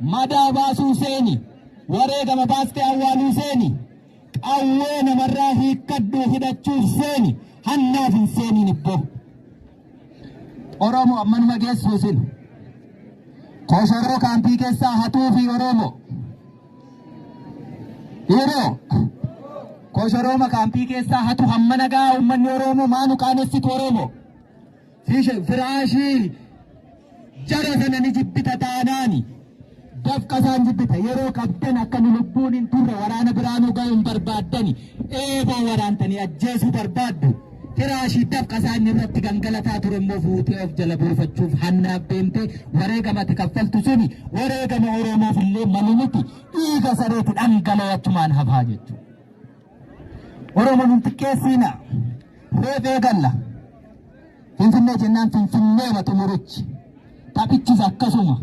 Madaa baasuu seeni, wareegama baastee awwaaluu seeni, qawwee namarraa hiikkadhuu hidhachuuf seeni, hannaaf hin seeniin ibboo. Oromoo ammanuma geessuu sin. Koshoroo kaampii keessaa hatuu fi Oromoo. Yeroo koshorooma kaampii keessaa hatu hammana gahaa uummanni Oromoo maanu qaanessitu Oromoo. Fiishan firaashii jara sana ni jibbita taanaani. Dafqa isaan jibbita yeroo qabdan akka nu lubbuun hin turre waraana biraa nu ga'uun barbaaddani eeboo waraantanii ajjeesuu barbaaddu. Firaashii dafqa isaan irratti gangalataa ture immoo fuutee of jala buufachuuf hannaaf deemtee wareegama ati kaffaltu suni wareegama Oromoof illee malu miti dhiiga sareeti dhangala'ee achumaan hafaa jechuudha. Oromoon hin xiqqeessiina. Reef eegalla. Finfinnee jennaan Finfinnee ma xumurichi. Taphichis akkasuma.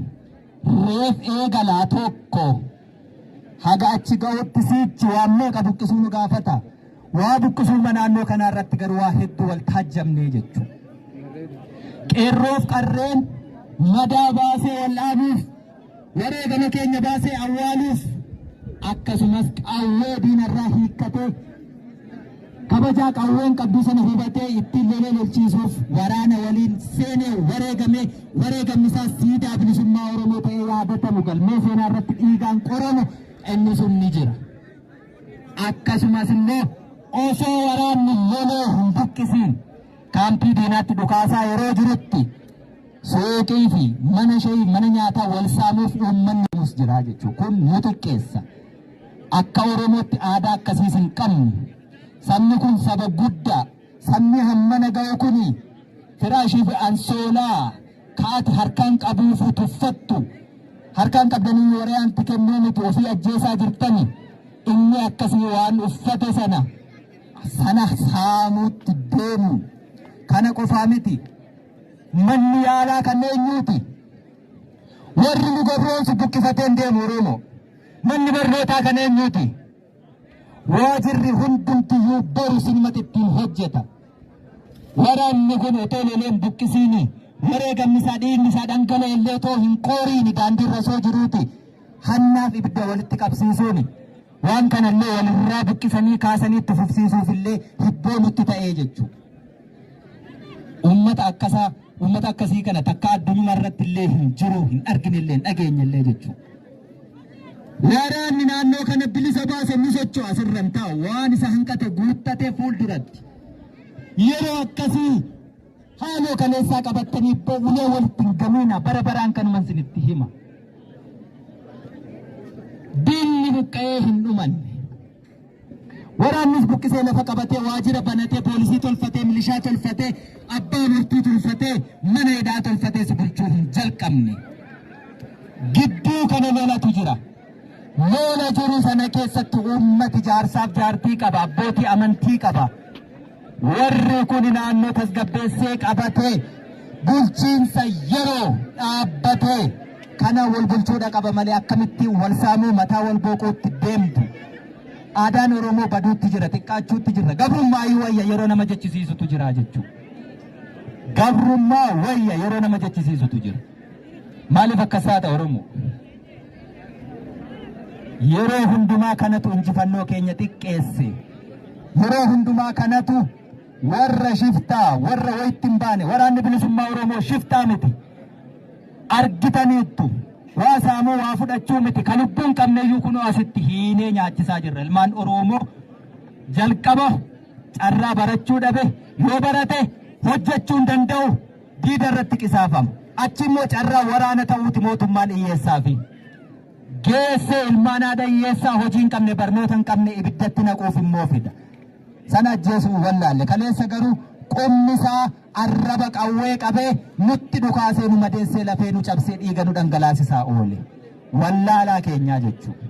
Reef eegalaa tokko. Haga achi ga'utti siichi waan meeqa buqqisuu nu gaafata. Waa buqqisuuma naannoo kanaa irratti garuu waa hedduu wal taajjabnee jechuudha. Qeerroof qarreen madaa baasee wal dhaabuuf wareegama keenya baasee awwaaluuf akkasumas qawwee diinarraa hiikkatee kabajaa qawween qabdu sana hubatee ittiin lolee lolchiisuuf waraana waliin seenee wareegame wareegamni isaas siidaa bilisummaa Oromoo ta'ee yaadatamu galmee seenaa irratti dhiigaan qoramu inni sun ni jira. Akkasumas immoo osoo waraanni lolee hin buqqisiin kaampii diinaatti dhukaasaa yeroo jirutti Suuqii fi mana shayii mana nyaataa wal saamuuf uummanni yoomus jira jechuun kun nu xiqqeessa. Akka Oromootti aadaa akkasiis hin qabnu. Sabni kun saba guddaa. Sabni hammana ga'u kun firaashii fi ansoolaa kaati harkaan qabuufuu tuffattu. Harkaan qabdanii waraanti kennuu miti ofii ajjeesaa jirtani. Inni akkasii waan uffate sana sana saamuutti deemu. Kana qofaa miti. Manni yaalaa kan eenyuuti? Warri nu gabroomsu buqqifateen deemu Oromoo. Manni barnootaa kan eenyuuti? Waajirri hundumtiyyuu boru sinumatti ittiin hojjeta. Waraanni kun otoo loleen buqqisiini wareegamni isaa dhiigni isaa dhangala'e illee otoo hin qooriini daandii irra osoo jiruuti hannaaf ibidda walitti qabsiisuuni. Waan kanallee walirraa buqqisanii kaasanii itti fufsiisuuf illee hibboo nutti ta'ee jechuudha. Uummata akkasaa uummata akkasii kana takka addunyaa irratti illee hin jiru hin argine illee hin dhageenye illee jechuudha. Waraanni naannoo kana bilisa baase ni socho'a asirran ta'a waan isa hanqate guuttatee fuulduratti. Yeroo akkasii haaloo kaleessaa qabattanii bo'ulee walitti hin gamiina bara baraan kanuman sinitti hima. Diinni buqqa'ee hin dhumanne. Waraannis buqqisee lafa qabatee waajjira banatee poolisii tolfatee milishaa tolfatee abbaa murtii tolfatee mana hidhaa tolfatee si bulchuu hin jalqabne. Gidduu kana lolatu jira. Lola jiru sana keessatti uummati jaarsaaf jaartii qaba, abbootii amantii qaba, Warri kun naannoo tasgabbeessee qabatee bulchiinsa yeroo dhaabbatee kana wal bulchuudha qaba malee akkamitti wal saamuu mataa wal booquutti deemtu. Aadaan Oromoo baduutti jira, xiqqaachuutti jira. Gabrummaa iyyuu wayya yeroo nama jechisiisutu jira jechuudha. Gabrummaa wayya yeroo nama jechisiisutu jira. Maaliif akkas taata Oromoo? Yeroo hundumaa kanatu injifannoo keenya xiqqeesse. Yeroo hundumaa kanatu warra shiftaa, warra wayitti hin baane, waraanni bilisummaa Oromoo shiftaa miti. Argitaniittu. Waa saamuu waa fudhachuu miti. Kan lubbuu hin qabneyyuu kunoo asitti hiinee nyaachisaa jirra. Ilmaan Oromoo jalqaba carraa barachuu dhabe yoo barate hojjechuu hin danda'u. diida irratti qisaafama. Achi immoo carraa waraana ta'uuti mootummaan hiyyeessaafi. Geessee ilmaan haadha hiyyeessaa hojii hin qabne barnoota hin qabne ibiddatti naquuf immoo fida. Sana ajjeesuu hin wallaalle. Kaleessa garuu qubni isaa arraba qawwee qabee nutti dhukaasee nu madeessee lafee nu cabsee dhiiga nu dhangalaasisaa oole. Wallaalaa keenyaa jechuudha.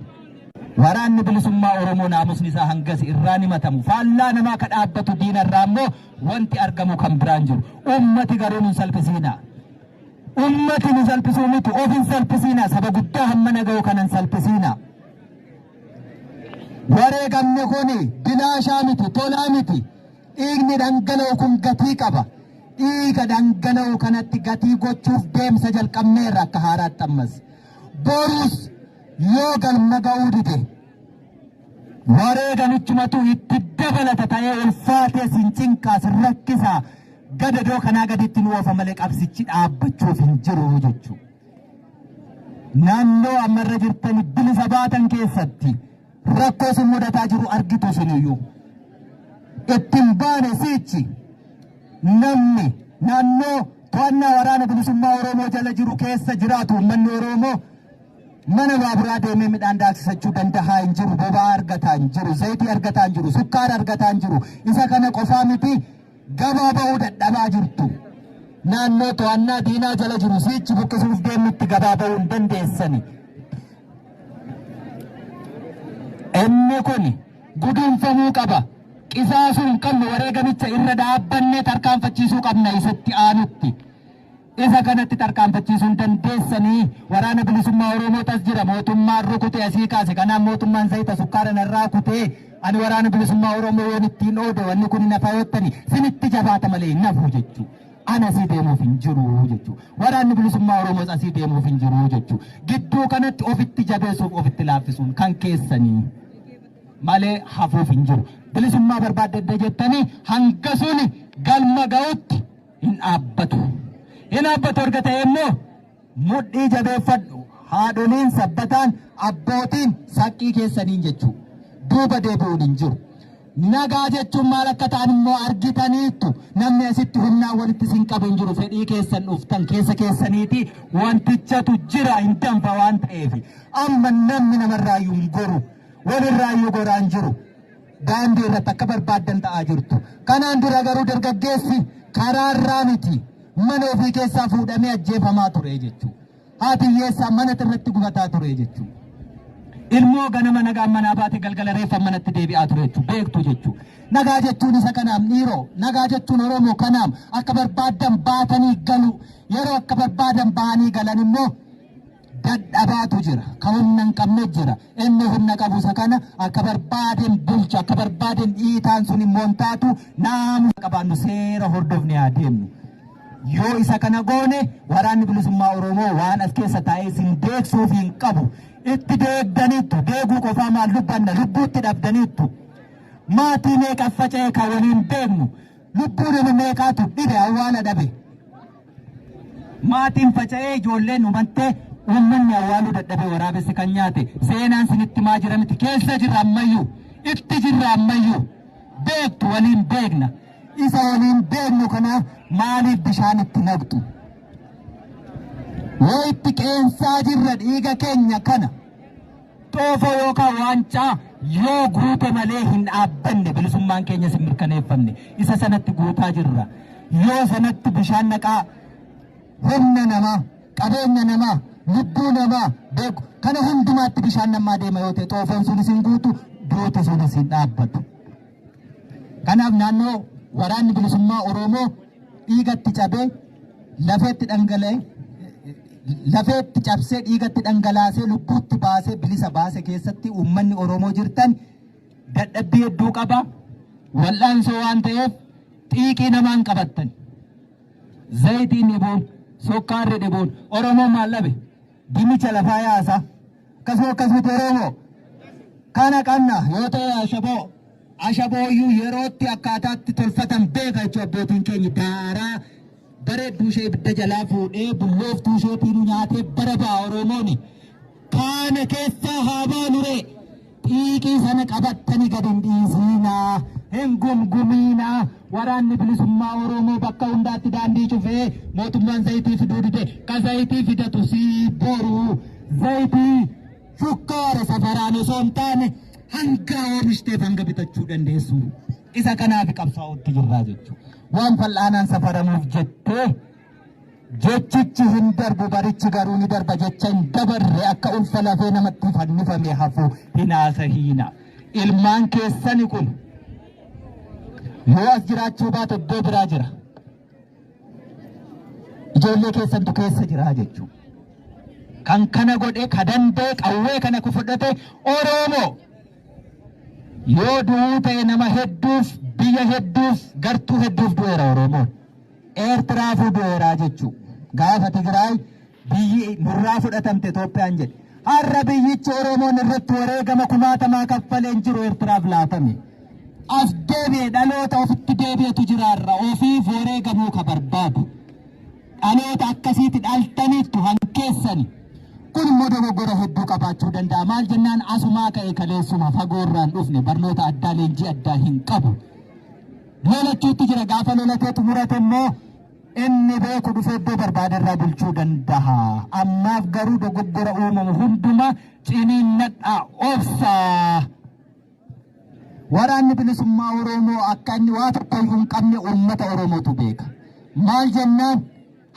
Waraanni bilisummaa Oromoo naamusni isaa hangas irraa ni matamu. Faallaa namaa ka dhaabbatu diina irraa immoo Wanti argamu kan biraan jiru. Ummati garuu nun salphisiinaa. Ummati nu salphisuu miti of hin salphisiinaa. Saba guddaa hamma naga'u kana hin salphisiinaa. Wareegamni kun bilaashaa miti, tolaa miti. Dhiigni dhangala'u kun gatii qaba. Dhiiga dhangala'u kanatti gatii gochuuf deemsa jalqabneerra akka haaraatti ammas. Borus yoo galma ga'uu dide Wareeganichumatu itti dabalata ta'ee ulfaatee sin cinqaa sin rakkisaa gadadoo kanaa gaditti nu oofa malee qabsichi dhaabbachuuf hin jiru jechuudha. Naannoo amma irra jirtan bilisa baatan keessatti rakkoo sin mudataa jiru argitu siniyyuu. Ittiin baane siichi namni naannoo to'annaa waraana bilisummaa Oromoo jala jiru keessa jiraatu uummanni Oromoo mana baaburaa deemee midhaan daaksisachuu dandahaa hin jiru, boba'aa argataa hin jiru, zayitii argataa hin jiru, sukkaara argataa hin jiru. Isa kana qofaa miti gabaa ba'uu dadhabaa jirtu. Naannoo to'annaa diinaa jala jiru siichi buqqisuuf deemutti gabaa ba'uu hin dandeessani. Inni kun guduunfamuu qaba. Qisaasuu hin qabnu wareegamicha irra dhaabbanne tarkaanfachiisuu qabna isatti aanutti. Isa kanatti tarkaanfachiisuun dandeessanii waraana bilisummaa Oromootu as jira mootummaan rukute asii kaase kanaan mootummaan zayita sukkaara narraa kutee ani waraana bilisummaa Oromoo yoon ittiin oode wanni kun hin hafaa yottani sinitti jabaata malee hin hafu jechuu ana asii deemuuf hin jiru jechuu waraanni bilisummaa Oromoos asii deemuuf hin jiru jechuu gidduu kanatti ofitti jabeessuuf ofitti laaffisuun kan keessanii malee hafuuf hin jiru bilisummaa barbaadde jettanii hanga suni galma ga'utti hin dhaabbatu. Hin dhaabbatu erga ta'e immoo mudhii jabeeffadhu. Haadholiin sabbataan abbootiin saqqii keessaniin jechuu duuba deebi'uun hin jiru. Nagaa jechuun maal akka ta'an immoo argitaniittu namni asitti humnaan walitti sin qabu hin jiru fedhii keessan dhuftan keessa keessaniiti wantichatu jira hin danfa waan ta'eef amma namni namarraayyuu hin goru walirraayyuu goraan jiru. daandii irratti akka barbaaddan ta'aa jirtu. Kanaan dura garuu dargaggeessi karaa irraa miti mana ofii keessaa fuudhamee ajjeefamaa ture jechuudha. Haati hiyyeessaa mana irratti gubataa ture jechuudha. Ilmoo ganama nagaan manaa baate galgala reeffa manatti deebi'aa ture jechuudha. Beektu jechuudha. Nagaa jechuun isa kanaam dhiiroo. Nagaa jechuun Oromoo kanaam akka barbaadan baatanii galu. Yeroo akka barbaadan bahanii galan immoo dadhabaatu jira ka humna hin qabne jira inni humna qabu isa kana akka barbaadeen bulcha akka barbaadeen dhiitaan sun immoo hin taatu naamusa qabaannu seera hordofne haa deemnu yoo isa kana goone waraanni bilisummaa oromoo waan as keessa taa'ee sin deegsuuf hin qabu itti deegdaniittu deeguu qofaa maal dubbanna lubbuutti dhabdaniittu maatii meeqa faca'e kan waliin beeknu lubbuu nama meeqaatu dhibe awwaala dhabe Maatiin faca'ee ijoolleen umattee uummanni awwaaluu dadhabee waraabessi kan nyaate seenaan sinitti maa jira miti keessa jirra ammayyuu itti jirra ammayyuu beektu waliin beekna isa waliin beeknu kana maaliif bishaan itti naqxu yoo itti qeensaa jirra dhiiga keenya kana Xoofoo yookaan waancaa yoo guute malee hin dhaabbanne bilisummaan keenyas hin mirkaneeffamne. Isa sanatti guutaa jirra. Yoo sanatti bishaan naqaa humna namaa, qabeenya namaa, lubbuu namaa beeku kana hundumaatti bishaan namaa deema yoo ta'e xoofoon sunis hin guutu, duuti sunis hin dhaabbatu. Kanaaf naannoo waraanni bilisummaa Oromoo dhiigatti cabee lafeetti dhangala'e lafeetti cabsee dhiigatti dhangalaasee lubbuutti baasee bilisa baase keessatti uummanni Oromoo jirtan dadhabbii hedduu qaba wal'aansoo waan ta'eef xiiqii namaan qabattan zayitiin dhibuun sukkaarri dhibuun Oromoo maal dhabe Dinnicha lafaa yaasa. Akkasuma akkas miti Oromoo. Kana qabna yoo ta'e ashaboo. Ashabooyyuu yerootti akkaataatti tolfatan beeka jechuun abbootiin keenya daaraa bareedduu ishee ibidda jalaa fuudhee bullooftuu isheetiinuu nyaatee bara ba'a Oromooni. Kaana keessaa haa baanuree. Xiiqii sana qabattani gad hin dhiisiinaa, hin gumgumiinaa. Waraanni bilisummaa Oromoo bakka hundaatti daandii cufee mootummaan zayitii fiduu dide. Ka zayitii fidatu sii boru zayitii shukkaara safaraan osoo hin taane hanga oomishte hanga bitachuu dandeessu. Isa kanaaf qabsaa'utti jirraa jechuudha. Waan fal'aanaan safaramuuf jettee Jechichi hin darbu barichi garuu ni darba jecha hin dabarre akka ulfa lafee namatti fannifame hafu hin haasahiina. Ilmaan keessani kun yoo as jiraachuu baate iddoo biraa jira. Ijoollee keessantu keessa jira jechuudha. Kan kana godhe ka danda'e qawwee kana ku fudhate Oromoo yoo du'uu ta'e nama hedduuf biyya hedduuf gartuu hedduuf du'eera Oromoon. Eertiraafuu du'eeraa jechuu. Gaafa Tigraay biyyi nurraa fudhatamte Itoophiyaan jedhe. Har'a biyyichi Oromoon irratti wareegama kumaatamaa kaffaleen jiru Eertiraaf laatame. As deebi'e dhaloota ofitti deebi'etu jira har'a ofiif wareegamuu ka barbaadu. Dhaloota akkasiiti dhaltaniittu hankeessani. Kun immoo dogoggora hedduu qabaachuu danda'a. Maal jennaan asumaa ka'e kaleessuma fagoorraan dhufne barnoota addaa leenjii addaa hin qabu. lolachuutti jira gaafa lolatee xumurate immoo inni beeku dhufee iddoo barbaade irraa bulchuu danda'a ammaaf garuu dogoggora uumamu hunduma ciniinnadhaa obsaa waraanni bilisummaa oromoo akka inni waa tokko iyyuu hin qabne uummata oromootu beeka maal jennaan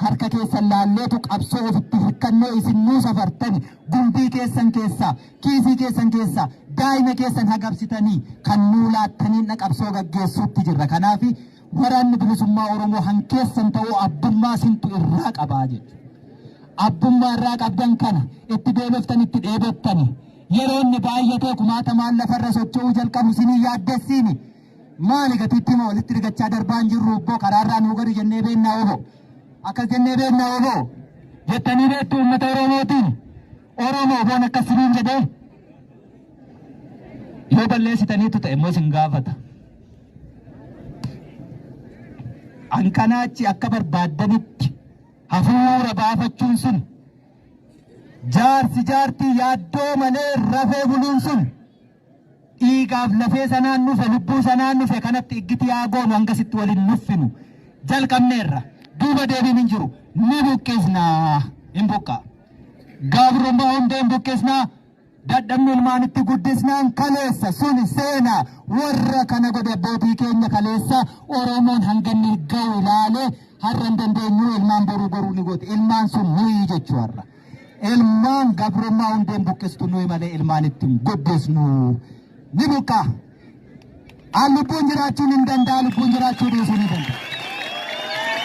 Harka keessan laalleetu qabsoo ofitti hirkannoo isin nuu safartani gumbii keessan keessaa, kiisii keessan keessaa daa'ima keessan hagabsitanii kan nuu laattaniin dha qabsoo gaggeessuutti jirra. Kanaafi Waraanni Bilisummaa Oromoo han keessan ta'uu abbummaa sintu irraa qabaa jechu. Abbummaa irraa qabdan kana itti beeloftani itti dheebottani yeroo inni baay'atee kumaatamaan lafarra socho'uu jalqabu isin hin yaaddessiini? Maali gatiitti moo walitti rigachaa darbaa hin jirru obboo karaarraa nuu gadi jennee beennaa obo. Akkas jennee beennaa obo. Jettanii beektu uummata Oromootiin. Oromoo boon akkas siniin jedhee. Yoo balleessitaniitu ta'e immoo sin gaafata. An kanaachi akka barbaaddanitti hafuura baafachuun sun jaarsi jaartii yaaddoo malee rafee buluun sun. Dhiigaaf lafee sanaan nufe lubbuu sanaan nufe kanatti iggiti yaa goonu hangasitti wal hin nuffinu. Jalqabneerra. Duuba deebiin hin jiru. Ni buqqisna. Hin buqqaa. Gabrummaa hunda hin buqqisna. Dadhabni ilmaanitti guddisnaan kaleessa suni seenaa warra kana godhe abbootii keenya kaleessa Oromoon hanganni ga'u ilaalee har'a hin dandeenyu ilmaan boruu goruu ni goote. Ilmaan sun nuyi jechuu har'a. Ilmaan gabrummaa hundeen buqqistu nuyi malee ilmaan ittiin guddisnu ni buqqaa. An lubbuun jiraachuun hin danda'a, lubbuun jiraachuu dhiisuu ni danda'a.